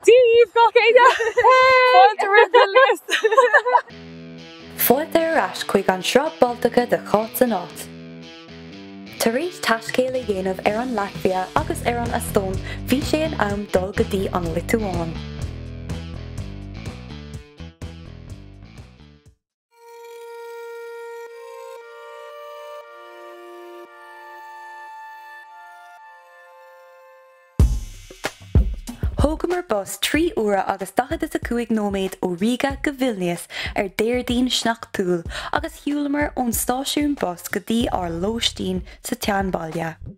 Dia daoibh gach éinne! Fáilte romhaibh ar ais! Fáilte ar ais chuig an Sraith Baltacha de Chaoimhe san Áit! Tar éis taiscéal a dhéanamh ar an Laitvia agus ar an Eastóin bhí sé in am dul go dtí an Liotuáin. Thógamar bus trí uaire agus daichead is a cúig nóiméad ó Ríge go Vilnias ar Déardaoin sneachtúil agus shiúlamar ón stáisiún bus go dtí ár lóistín sa tseanbhaile.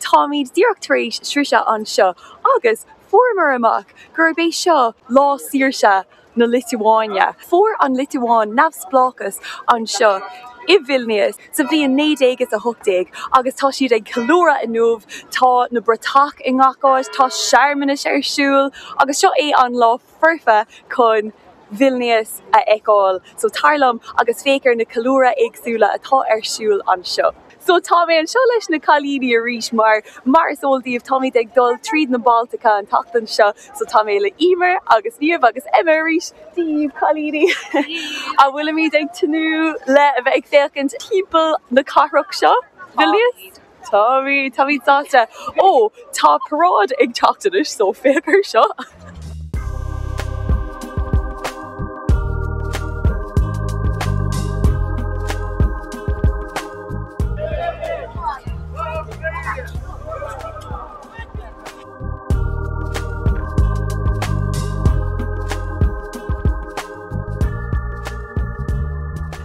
Táimid díreach tar éis sroicheadh anseo agus fuaireamar amach gurb é seo lá saoirse na Liotuáine. Fuair an Liotuáin neamhspleáchas anseo i Vilnias sa bhliain naoi déag is a hocht déag agus tá siad ag ceiliúradh inniu. Tá na bratach i ngach áit, tá searmanais ar siúl agus seo é an lá. foirfe chun Vilnius a fheiceáil. So tar liom agus féach ar na ceiliúradh éagsúla atá ar siúl anseo. So tá mé anseo leis na cailíní arís mar mar is eol daoibh táimid ag dul tríd na Baltacha an tseachtain seo so tá mé le Emer agus Niamh agus Emma arís daoibh cailíní a bhfuilimid ag tnúth le a bheith ag féachaint timpeall na cathrach seo, Vilnius. Táim, táim excited. Ó, tá paráid ag teacht anois so féach ar seo.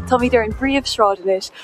Táimid ar an bpríomhshráid anois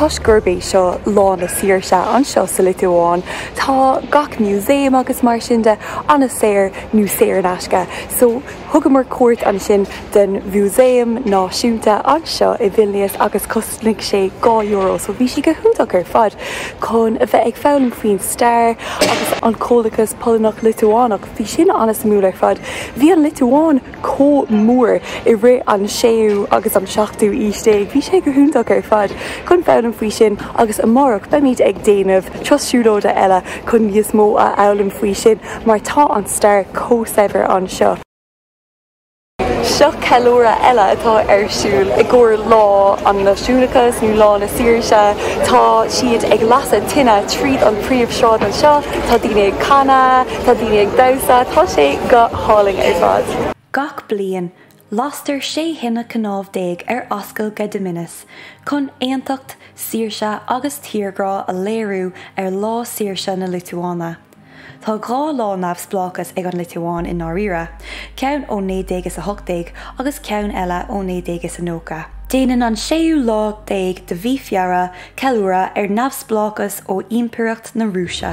Toisc gurb é seo Lá na Saoirse anseo sa Liotuáin, tá gach músaem agus mar sin de an-saor nó saor in aisce, so thugamar cuairt ansin don Mhúsaem Náisiúnta anseo i Vilnius agus cosnaigh sé dhá euro, so bhí sé go hiontach ar fad chun a bheith ag foghlaim faoin stair agus an comhlachas Polannach-Liotuánach. Bhí sin an-suimiúil ar fad. Bhí an Liotuáin chomh mór i rith an séú agus an seachtú aois déag. Bhí sé go hiontach ar fad chun foghlaim faoi sin agus amárach beimid ag déanamh turas siúlóide eile chun níos mó a fhoghlaim faoi sin mar tá an stair chomh saibhir anseo. Seo ceiliúradh eile atá ar siúl i gcomhair Lá an Náisiúnachas nó Lá na Saoirse. Tá siad ag lasadh tine tríd an bpríomhshráid anseo, tá daoine ag canadh, tá daoine ag damhsa, tá sé go hálainn ar fad. Gach bliain, lastar sé thine cnámh déag ar Ascaill Gediminas chun aontacht, saoirse agus tírghrá a léiriú ar Lá Saoirse na Liotuáine. Tá dhá lá neamhspleáchas ag an Liotuáin i ndáiríre, ceann ó 1918 agus ceann eile ó 1990. Déanann an séú lá déag de mhí Feabhra ceiliúradh ar neamhspleáchas ó Ímpireacht na Rúise.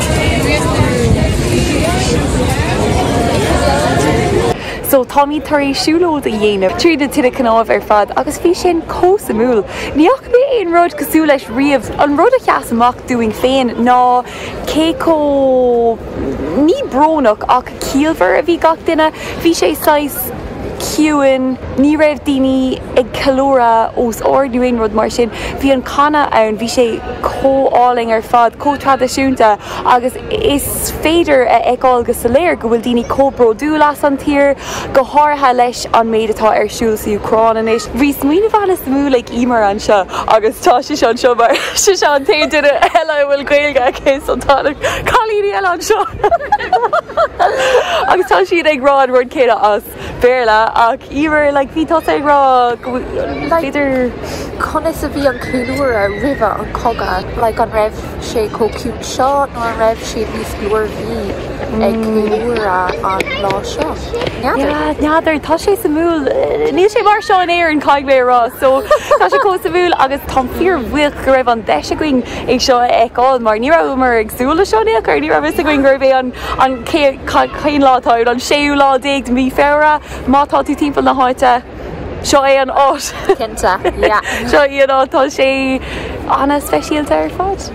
So táimid tar éis siúlóid a dhéanamh tríd na tinte cnámh ar fad agus bhí sin chomh suimiúil. Ní fhaca mé aon rud cosúil leis riamh. An rud a sheas amach dúinn féin ná cé chomh, ní brónach ach ciallmhar a bhí gach duine. Bhí sé saghas. ciúin, ní raibh daoine ag ceiliúradh os ard nó aon rud mar sin. Bhí an canadh ann, bhí sé chomh álainn ar fad, chomh traidisiúnta agus is féidir a fheiceáil go soiléir go bhfuil daoine chomh bródúil as an tír, go háirithe leis an méid atá ar siúl sa Úcráin anois. Bhí smaoineamh an-suimiúil ag Eimear anseo agus tá sise anseo mar sise an t-aon duine eile a bhfuil Gaeilge aici so tá na cailíní eile anseo. Agus tá siad ag rá an rud céanna as Béarla ach Eimear like bhí tusa ag rá go bhfuil b'fhéidir. Conas a bhí an ceiliúradh roimhe an cogadh? Like an raibh sé chomh ciúin seo nó an raibh siad níos glórmhaire ag ceiliúradh an lá seo? N'fheadar. N'fheadar, tá sé suimiúil. Níl sé mar seo in Éirinn caithfidh mé a rá so tá sé chomh suimiúil agus táim fíor bhuíoch go raibh an deis againn é seo a fheiceáil mar ní rabhamar ag súil leis seo in aon chor, ní raibh fhios againn gurbh é an cén lá atá inniu, an séú lá déag de mhí Feabhra má tá tú timpeall na háite, seo é an áit. Cinnte, yeah. Seo é an áit, tá sé ana speisialta ar fad.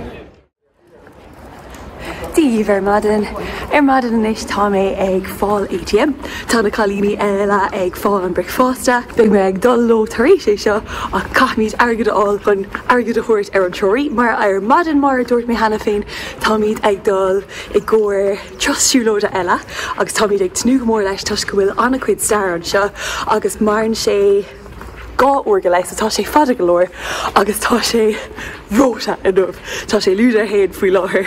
Daoibh ar maidin. Ar maidin anois tá mé ag fáil ATM. Tá na cailíní eile ag fáil an bricfeasta. Beidh mé ag dul leo tar éis é seo ach caithfimid airgead a fháil chun airgead a thabhairt ar an treoraí mar ar maidin mar a dúirt mé cheana féin táimid ag dul i gcomhair turas siúlóide eile agus táimid ag tnúth go mór leis toisc go bhfuil an-chuid stair anseo agus maireann sé 2 uair go leith so tá sé fada go leor agus tá sé reoite inniu. Tá sé lúide a haon faoi láthair.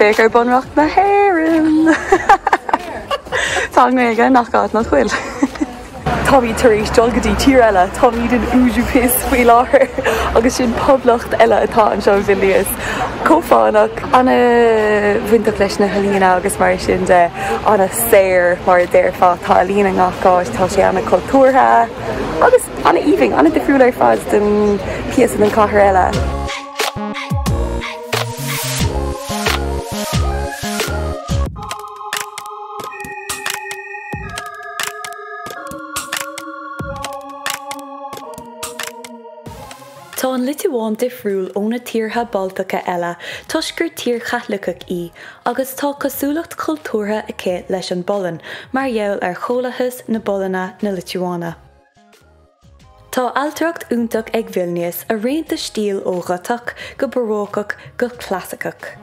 Féach ar Bunreacht na hÉireann! Tá an Ghaeilge in gach áit nach bhfuil? Táimid tar éis dul go dtí tír eile, táimid in Užupis faoi láthair agus sin poblacht eile atá anseo i Vilnius. Chomh fánach. An-bhainteach leis na healaíona agus mar sin de, an-saor mar a déarfá. Tá ealaíon i ngach áit, tá sé an-chultúrtha agus an-aoibhinn, an-difriúil ar fad den píosa den chathair eile. Tá an Liotuáin difriúil ó na tíortha Baltacha eile toisc gur tír Chaitliceach í agus tá cosúlacht cultúrtha aici leis an bPolainn mar gheall ar Chomhlathas na bPolainne-na Liotuáine. Tá ailtireacht iontach ag Vilnius, ag roinnt stíl ó Ghotach go Barócach go Clasaiceach.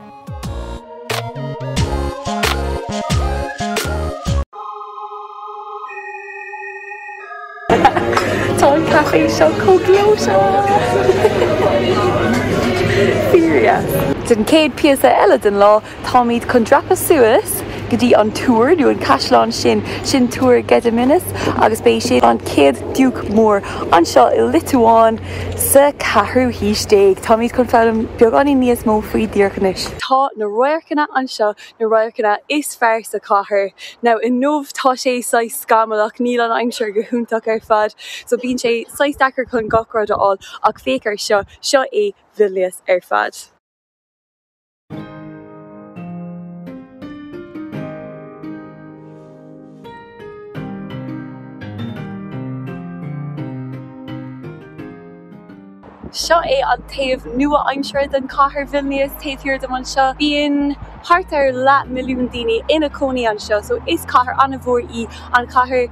Tá an caifé seo chomh gleoite! Fírinne. Den chéad píosa eile den lá, Táimid chun dreapadh suas go dtí an túr, nó an caisleán sin, sin túr Gediminas agus b'é sin an chéad diúc mór anseo i Liotuáin sa ceathrú haois déag. Táimid chun foghlaim beagáinín níos mó faoi díreach anois. Tá na radharcanna anseo, na radharcanna is fearr sa chathair. Now inniu tá sé saghas scamallach, níl an aimsir go hiontach ar fad, so bíonn sé saghas deacair chun gach rud a fháil, ach féach ar seo, seo é Vilnius ar fad. Seo é an taobh nua-aimseartha den chathair Vilnius, taobh thiar dom anseo. Bíonn thart ar leath milliún daoine ina cónaí anseo, so is cathair an-mhór í an chathair.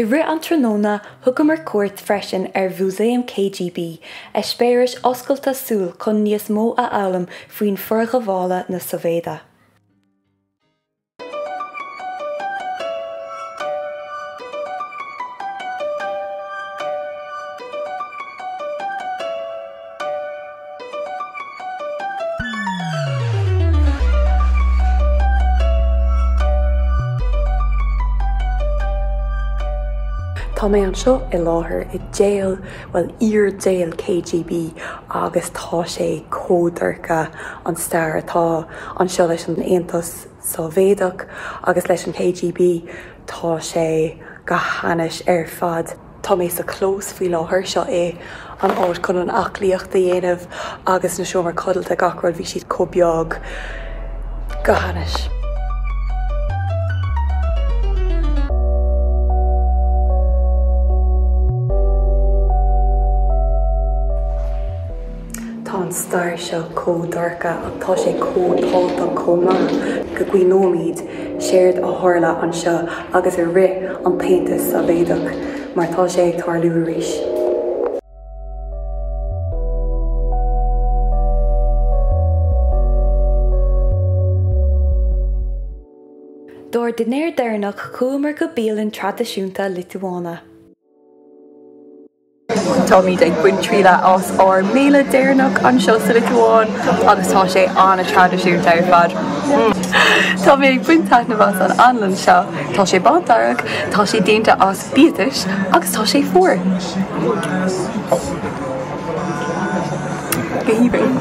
I rith an tráthnóna thugamar cuairt freisin ar Mhúsaem KGB, eispéireas oscailte súl chun níos mó a fhoghlaim faoin forghabhála na Sóivéide. Tá mé anseo i láthair i jail, bhuel, iar-jail KGB agus tá sé chomh dorcha, an stair atá anseo, leis an Aontas. Sóivéadach agus leis an KGB, tá sé go hainnis ar fad. Tá mé sa chlós faoi láthair, seo é an áit chun an aclaíocht a dhéanamh agus na seomra codlata, gach rud, bhí siad chomh beag. Go hainnis. Tá an stair seo chomh dorcha ach tá sé chomh tábhachtach chomh maith go gcuimhneoimid séard a tharla anseo agus i rith an tAontas Sóivéadach mar tá sé ag tarlú arís. Dár dinnéar deireanach chuamar go bialann traidisiúnta Liotuáine. Táimid ag baint trialla as ár mbéile deireanach anseo sa Liotuáin agus tá sé an-traidisiúnta ar fad. Tá mé ag baint taitneamh as an anlann seo. Tá sé bándearg, tá sé déanta as biatais agus tá sé fuar. Go haoibhinn.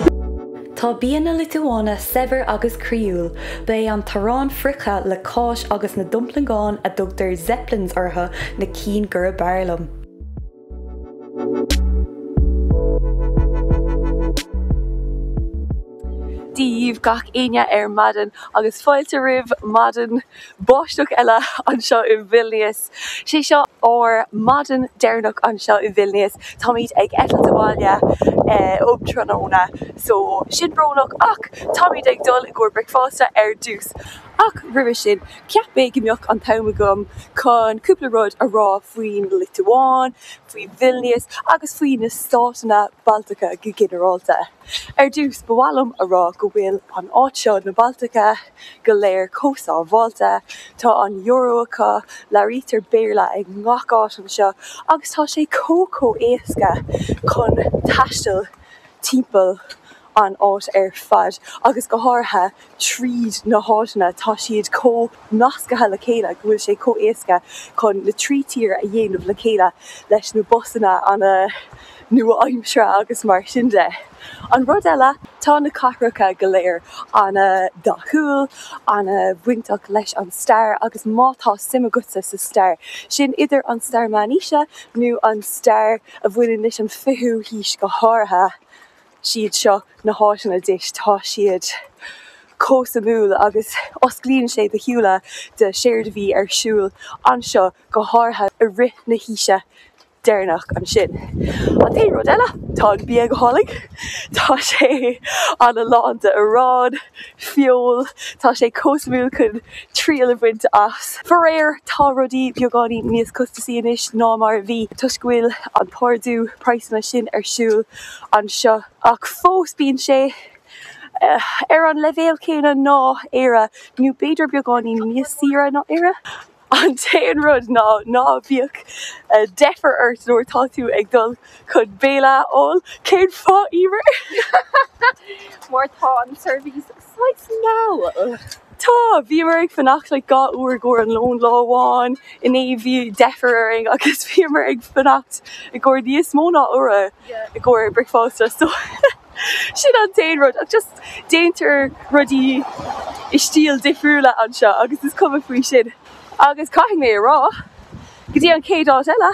Tá bia na Liotuáine saibhir agus croíúil. Ba é an t-arán friochta le cáis agus na domplaingeáin a dtugtar zeppelins orthu na cinn gurb fhearr liom. Dia dhíbh gach éinne ar maidin agus fáilte roimh maidin báisteach eile anseo i Vilnius. Sé seo ár maidin deireanach anseo i Vilnius. Táimid ag eitilt abhaile um tráthnóna so sin brónach ach táimid ag dul i gcomhair bricfeasta ar dtús. Ach roimhe sin, cheap mé go mbeadh an t-am agam chun cúpla rud a rá faoin Liotuáin, faoi Vilnius agus faoi na státanna Baltacha go ginearálta. Ar dtús, ba mhaith liom a rá go bhfuil an áit seo, na Baltacha, go léir chomh sábháilte. Tá an euro acu, labhraítear Béarla i ngach áit anseo agus tá sé chomh chomh héasca chun taisteal timpeall an áit ar fad agus go háirithe tríd na háiteanna tá siad chomh nascaithe le chéile go bhfuil sé chomh éasca chun na trí thír a dhéanamh le chéile leis na busanna ana nua aimseartha agus mar sin de. An rud eile tá na cathracha go léir ana dhathúil, ana bhainteach leis an stair agus má tá suim agatsa sa stair, sin idir an stair meánaoise nó an stair a bhaineann leis an fichiú haois go háirithe, siad seo na háiteanna duit, tá siad chomh suimiúil agus osclaíonn sé do shúile do séard a bhí ar siúl anseo go háirithe i rith na haoise deireanach ansin. An t-aon rud eile, tá an bia go hálainn, tá sé ana lán de arán, feoil, tá sé chomh suimiúil chun triail a bhaint as. Faraor, tá rudaí beagáinín níos costasaí anois ná mar a bhí toisc go bhfuil an t-ardú praghsanna sin ar siúl. anseo ach fós bíonn sé ar an leibhéal céanna le Éire nó b'fhéidir beagáinín níos saoire ná Éire. An t-aon rud ná ná bíodh deifir ort nuair atá tú ag dul chun béile a fháil. Cén fáth, Emer? Mar tá an tseirbhís Saghas mall, ach. Tá. Bhíomar ag fanacht like dhá uair i gcomhair an lón lá amháin, inné bhí deifir orainn agus bhíomar ag fanacht i gcomhair níos mó ná uair i gcomhair bricfeasta so sin an t-aon rud ach just déantar rudaí i stíl difriúla anseo agus is cuma faoi sin agus caithfidh mé a rá go dtí an chéad áit eile.